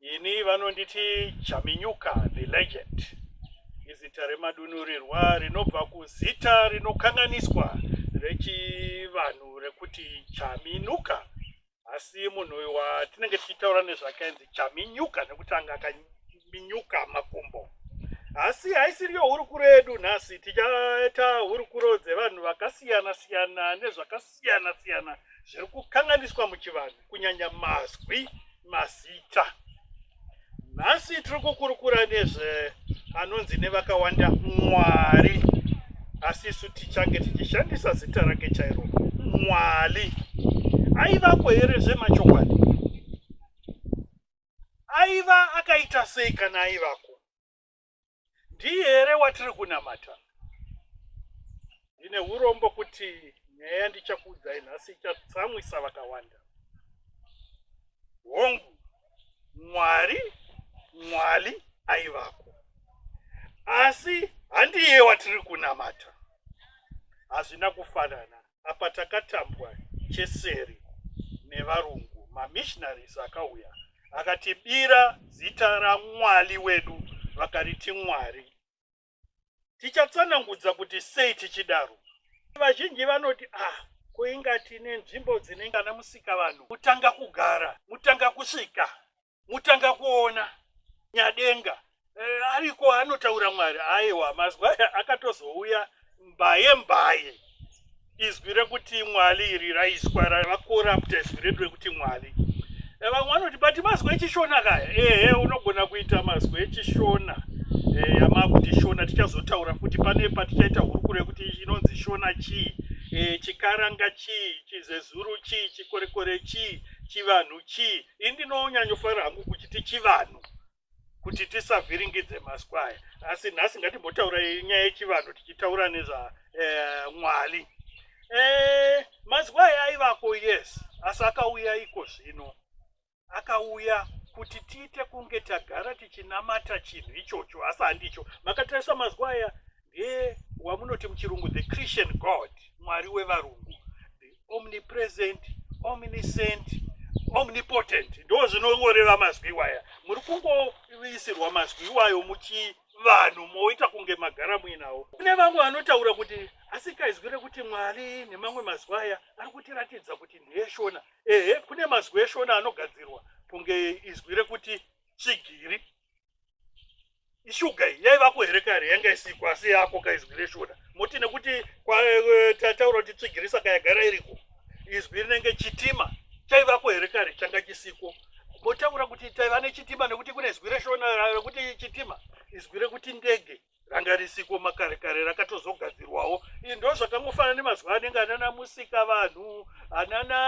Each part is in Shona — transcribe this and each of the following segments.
Ini vanonditi Chaminyuka the legend. Izita remadunurirwa rinobva kuzita rinokanganiswa rechivanhu rekuti Chaminuka. Asi munhu uyu watinenge tichitaura nezvake ainzi Chaminyuka nekuti anga akaminyuka makumbo. Asi haisiriyo hurukuro yedu nhasi, tichaita hurukuro dzevanhu vakasiyana siyana nezvakasiyana zvakasiyana siyana zviri kukanganiswa muchivanhu kunyanya mazwi mazita nhasi tiri kukurukura nezve anonzi nevakawanda mwari asi isu tichange tichishandisa zita rake chairo mwari aivapo here zvemachokwadi aiva akaita sei kana aivako ndiye here watiri kunamata ndine urombo kuti nyaya yandichakuudzai nhasi ichatsamwisa vakawanda hongu mwari mwari aivako asi handiye watiri kunamata hazvina kufanana apa takatambwa cheseri nevarungu mamissionaries akauya akatibira zita ramwali wedu vakariti mwari tichatsanangudza kuti sei tichidaro vazhinji vanoti ah kuinga tine nzvimbo dzinenge ana musika vanhu mutanga kugara mutanga kusvika mutanga kuona nyadenga eh, ariko anotaura mwari aiwa mazwi aya akatozouya mbaye mbaye izwi rekuti mwali iri raiswa ravakorapta izwi redu rekuti mwali eh, vamwe vanoti but mazwi echishona kaya ehe unogona kuita mazwi echishona eh, amakuti shona tichazotaura futi pane patichaita hurukuro yekuti inonzi shona chii eh, chikaranga chii chizezuru chii chikorekore chii chivanhu chii ini ndinonyanyofara hangu kuchiti chivanhu kuti tisavhiringidze maskwaya asi nhasi ngatimbotaura nyaya yechivanhu tichitaura nezvamwali eh, eh, maskwaya aivako yes asi akauya iko zvino akauya kuti tiite kunge tagara tichinamata chinhu ichocho asi handicho makatarisa mazuva aya ndiye wamunoti muchirungu the christian god mwari wevarungu the omnipresent omniscient omnipotent ndo zvinongoreva mazwi iwaya muri kungoisirwa mazwi iwayo muchivanhu moita kunge magara muinawo kune vamwe vanotaura kuti asikaizwi rekuti mwari nemamwe mazwi aya ari kutiratidza kuti ndeyeshona ehe kune mazwi eshona anogadzirwa kunge izwi rekuti tsvigiri ishuga iyi yaivako here kare yanga isiko asi yako kaizwi reshoda moti nekuti eh, tataura kuti tsvigirisa kayagara iriko izwi rinenge chitima chaivako here kare changa chisiko motaura kuti taiva nechitima nekuti kune izwi reshona rekuti chitima izwi rekuti ndege ranga risiko makare kare rakatozogadzirwawo ii ndo zvakangofanana nemazuva anenge anana musika vanhu anana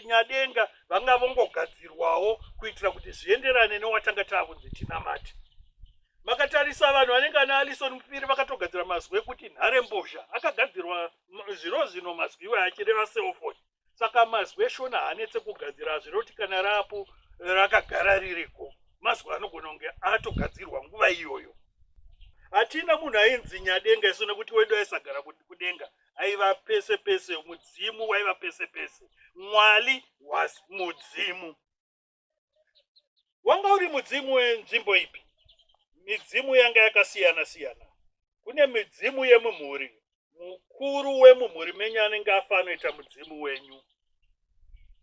nyadenga vanga vongogadzirwawo kuitira kuti zvienderane newatanga taakunzi tinamati makatarisa vanhu vanenge ana alison mupiri vakatogadzira mazwi ekuti nhare mbozha akagadzirwa zviro zvino mazwi iwayo achireva selfoni saka mazwi eshona hanetse kugadzira hazviroti kana raapo rakagara ririko mazwi anogona kunge atogadzirwa nguva iyoyo hatina munhu ainzi nyadenga isu nekuti wedu aisagara kudenga aiva pese pese mudzimu waiva pese pese mwali was mudzimu Wanga uri mudzimu wenzvimbo ipi? Midzimu yanga yakasiyana siyana. Kune midzimu yemumhuri, mukuru wemumhuri menyu anenge afa anoita mudzimu wenyu.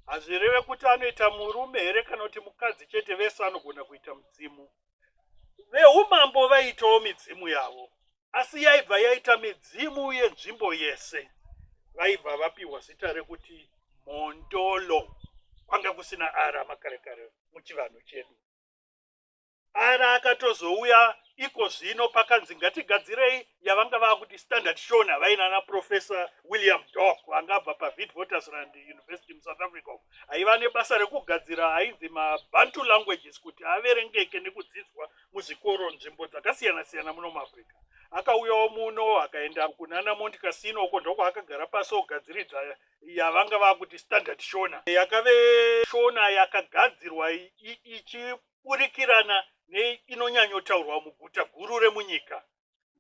Hazvireve kuti anoita murume here kana kuti mukadzi chete, vese anogona kuita mudzimu. Veumambo vaiitawo midzimu yavo. asi yaibva yaita midzimu yenzvimbo yese vaibva vapiwa zita rekuti mhondolo kwanga kusina ara makare kare muchivanhu chedu ara akatozouya iko zvino pakanzi ngatigadzirei yavanga vakuti standard shon havainana professor william dok vanga abva pavidvotersland university musouth africa aiva nebasa rekugadzira ainzi mabantu languages kuti averengeke nekudzidzwa muzvikoro nzvimbo dzakasiyana siyana muno muafrica akauyawo muno akaenda kunana mount casino uko ndokwaakagara pasi ogadziridza yavanga vakuti standard shona yakave shona yakagadzirwa ichiburikirana neinonyanyotaurwa muguta guru remunyika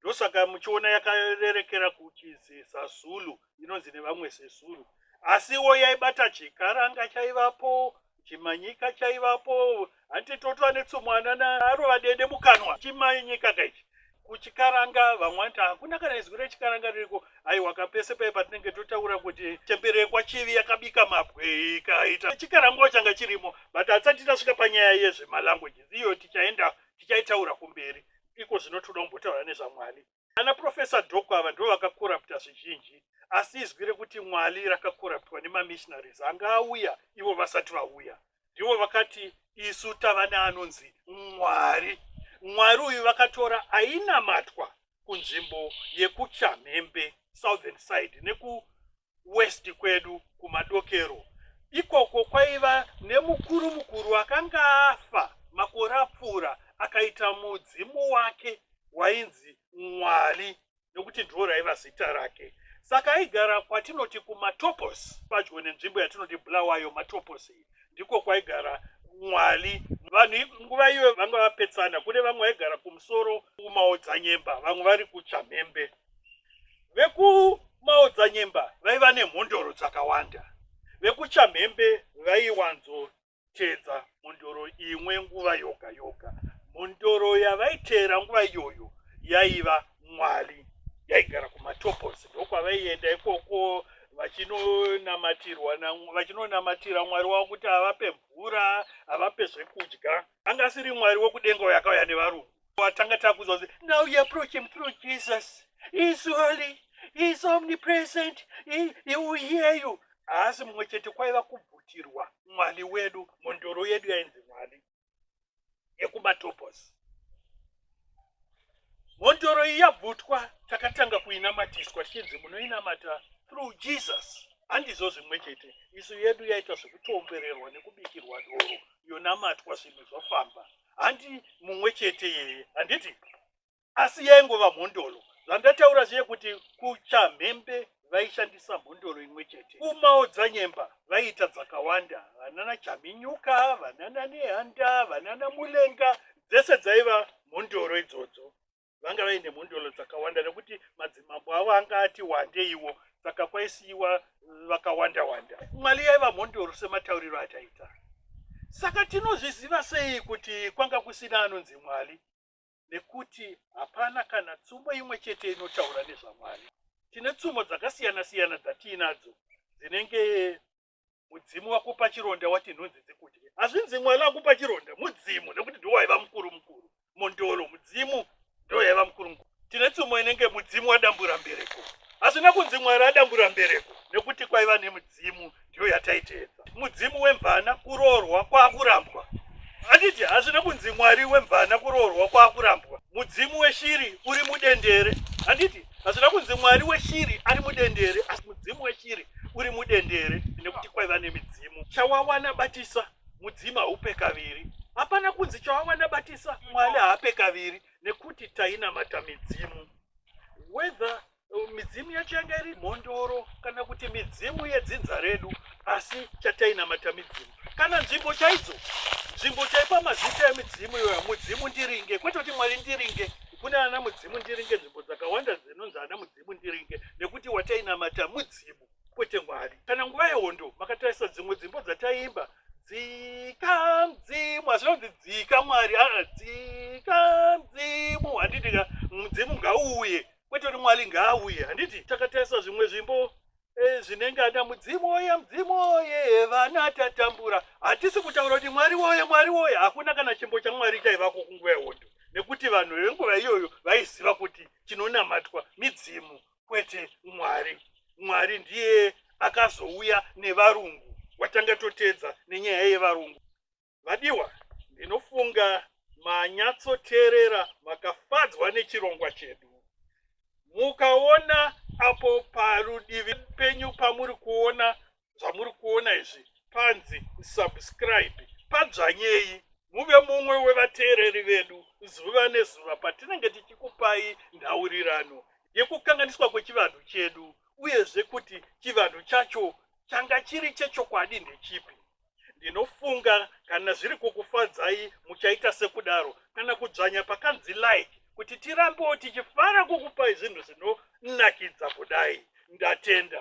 ndosaka muchiona yakarerekera kuchizi zazulu inonzi nevamwe zezulu asiwo yaibata chikaranga chaivapo chimanyika chaivapo hanti totwa netsumwana naarova dede mukanwa chimanyika kaichi kuchikaranga vamwe vanti hakuna kana izwi rechikaranga ririko aiwa kapese paye patinenge totaura kuti chemberekwa chivi yakabika mabwe ikaita chikarangawo changa chirimo but hatisati tasvika panyaya yezvemalanguages iyo tichaenda tichaitaura kumberi iko zvino toda kumbotaura nezvamwali ana profesa doko ava ndivo vakakorapta zvizhinji asi izwi rekuti mwali rakakoraptwa nemamissionaries anga auya ivo vasati vauya ndivo vakati isu tava neanonzi mwari mwari uyu vakatora ainamatwa kunzvimbo yekuchamhembe southern side neku west kwedu kumadokero ikoko kwaiva nemukuru mukuru akanga afa makore apfuura akaita mudzimu wake wainzi mwari nokuti ndiwo raiva zita rake saka aigara kwatinoti kumatopos padyo nenzvimbo yatinoti bulawayo matopos iyi ndiko kwaigara mwari vanhu nguva iyo vanga vapetsana kune vamwe vaigara kumusoro kumaodzanyemba vamwe vari kuchamhembe vekumaodzanyemba vaiva nemhondoro dzakawanda vekuchamhembe vaiwanzoteedza mhondoro imwe nguva yoga yoga mhondoro yavaiteera nguva iyoyo yaiva mwari yaigara kumatopos ndokwavaienda ikoko vachinonamatirwa vachinonamatira mwari wavo kuti avape mvura avape zvekudya anga asiri mwari wekudenga uyo akauya nevarungu watanga takuza kuti now you approach him through jesus he is holy he is omnipresent he, he will hear you haasi mumwe chete kwaiva kubvutirwa mwali wedu mhondoro yedu yainzi mwali yekumatopos mhondoro iyi yabvutwa takatanga kuinamatiswa tichinzi munoinamata through jesus handizvo zvimwe chete isu yedu yaita zvekutombererwa nekubikirwa doro yonamatwa zvinhu zvofamba so handi mumwe chete yeye handiti asi yaingova mhondolo zvandataura zviye kuti kuchamhembe vaishandisa mhondoro imwe chete umawo dzanyemba vaiita dzakawanda vanana chaminyuka vanana nehanda vanana mulenga dzese dzaiva mhondoro idzodzo vanga vaine mhondoro dzakawanda nekuti madzimambo avo anga ati wandeiwo saka kwaisiiwa vakawanda wanda mwali yaiva mhondoro sematauriro ataita saka tinozviziva sei kuti kwanga kusina anonzi mwali nekuti hapana kana tsumo imwe chete inotaura nezvamwari tine tsumo dzakasiyana siyana dzatiinadzo dzinenge mudzimu wakupa chironda wati nhunzi dzikudye hazvinzi mwana akupa chironda mudzimu nekuti ndiwo waiva mukuru mukuru mondolo mudzimu ndo yaiva mukuru mukuru tine tsumo inenge mudzimu wadambura mbereko hazvina kunzi mwari adambura mbereko nekuti kwaiva nemudzimu ndiyo yataiteedza mudzimu wemvana kuroorwa kwakurambwa handiti hazvina kunzi mwari wemvana kuroorwa kwakurambwa mudzimu weshiri uri mudendere handiti Hazvina kunzi mwari weshiri ari mudendere asi mudzimu weshiri uri mudendere nekuti kwaiva nemidzimu. Chawawana batisa mudzimu haupe kaviri. Hapana kunzi chawawana batisa mwari haape kaviri nekuti tainamata midzimu. Whether uh, midzimu yacho yanga iri mhondoro kana kuti midzimu yedzinza redu asi chatainamata midzimu. kana nzvimbo chaidzo nzvimbo chaipa mazita emidzimu iyoyo mudzimu ndiringe kwete kuti mwari ndiringe kune ana mudzimu ndiringe nzvimbo dzakawanda dzinonzi ana mudzimu ndiringe nekuti watainamata mudzimu kwete mwari kana nguva yehondo makatarisa dzimwe dzimbo dzataimba dzika mudzimu asi nonzi dzika mwari aa dzika mudzimu handiti ka mudzimu ngauuye kwete kuti mwari ngaauye handiti takatarisa zvimwe zvimbo Eh, zvinenge ana mudzimu woye mudzimu woye vana tatambura hatisi kutaura kuti mwari woye mwari woye hakuna kana chimbo chamwari chaivako kunguva yehondo nekuti vanhu venguva iyoyo vaiziva kuti chinonamatwa midzimu kwete mwari mwari ndiye akazouya nevarungu watanga toteedza nenyaya yevarungu Vadiwa, ndinofunga manyatsoteerera makafadzwa nechirongwa chedu. Mukaona apo parudivi penyu pamuri kuona zvamuri kuona izvi panzi subscribe, padzvanyei muve mumwe wevateereri vedu zuva nezuva patinenge tichikupai nhaurirano yekukanganiswa kwechivanhu chedu uyezve kuti chivanhu chacho changa chiri chechokwadi ndechipi. ndinofunga kana zviri kukufadzai muchaita sekudaro kana kudzvanya pakanzi like kuti tirambewo tichifara kukupai zvinhu zvinonakidza kudai ndatenda